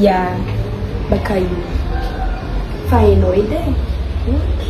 Ia baka io fa enao edy e ok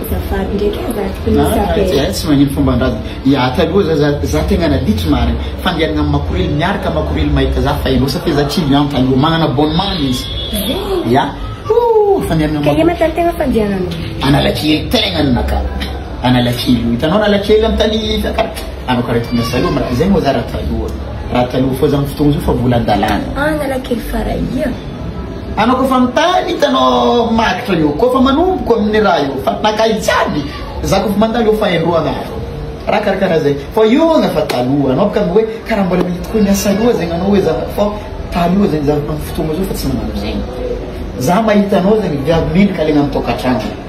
azafady ndraiky e za tokony ah, isapela tsy magnino fomba andrady iata aloha za za tegna naditry marina fandianagna amy makorely miaraka makorely mahita za fa enao satria za tsy lianta io magnana abonnement izy ia fandianagna kay matany tegna fandianagna analakely tegna ny naka analakely io hitanao analakely amy tany fiakaratra anao karaha tokony asaloha maka zay moa za raha taloha Raha taloha fô zany fotoagna zao fa mbola andalana. Analakely Farahia. Anao kôfa mitany hitanao magitra io kôfa manomboka amin'ny raha io fa nakay jiaby za kôfa mandalo eo fa indroa anaro raha karakara zay fa io agna fa taloha anao baka hoe karaha mbola mety koa niasa aloha zegny anao hoe za fa taloha zegny za amin'ny fotoagna zao fa tsy magnano zegny za mahita anao zegny viavy mendrika alaigna amin'ny tokantragno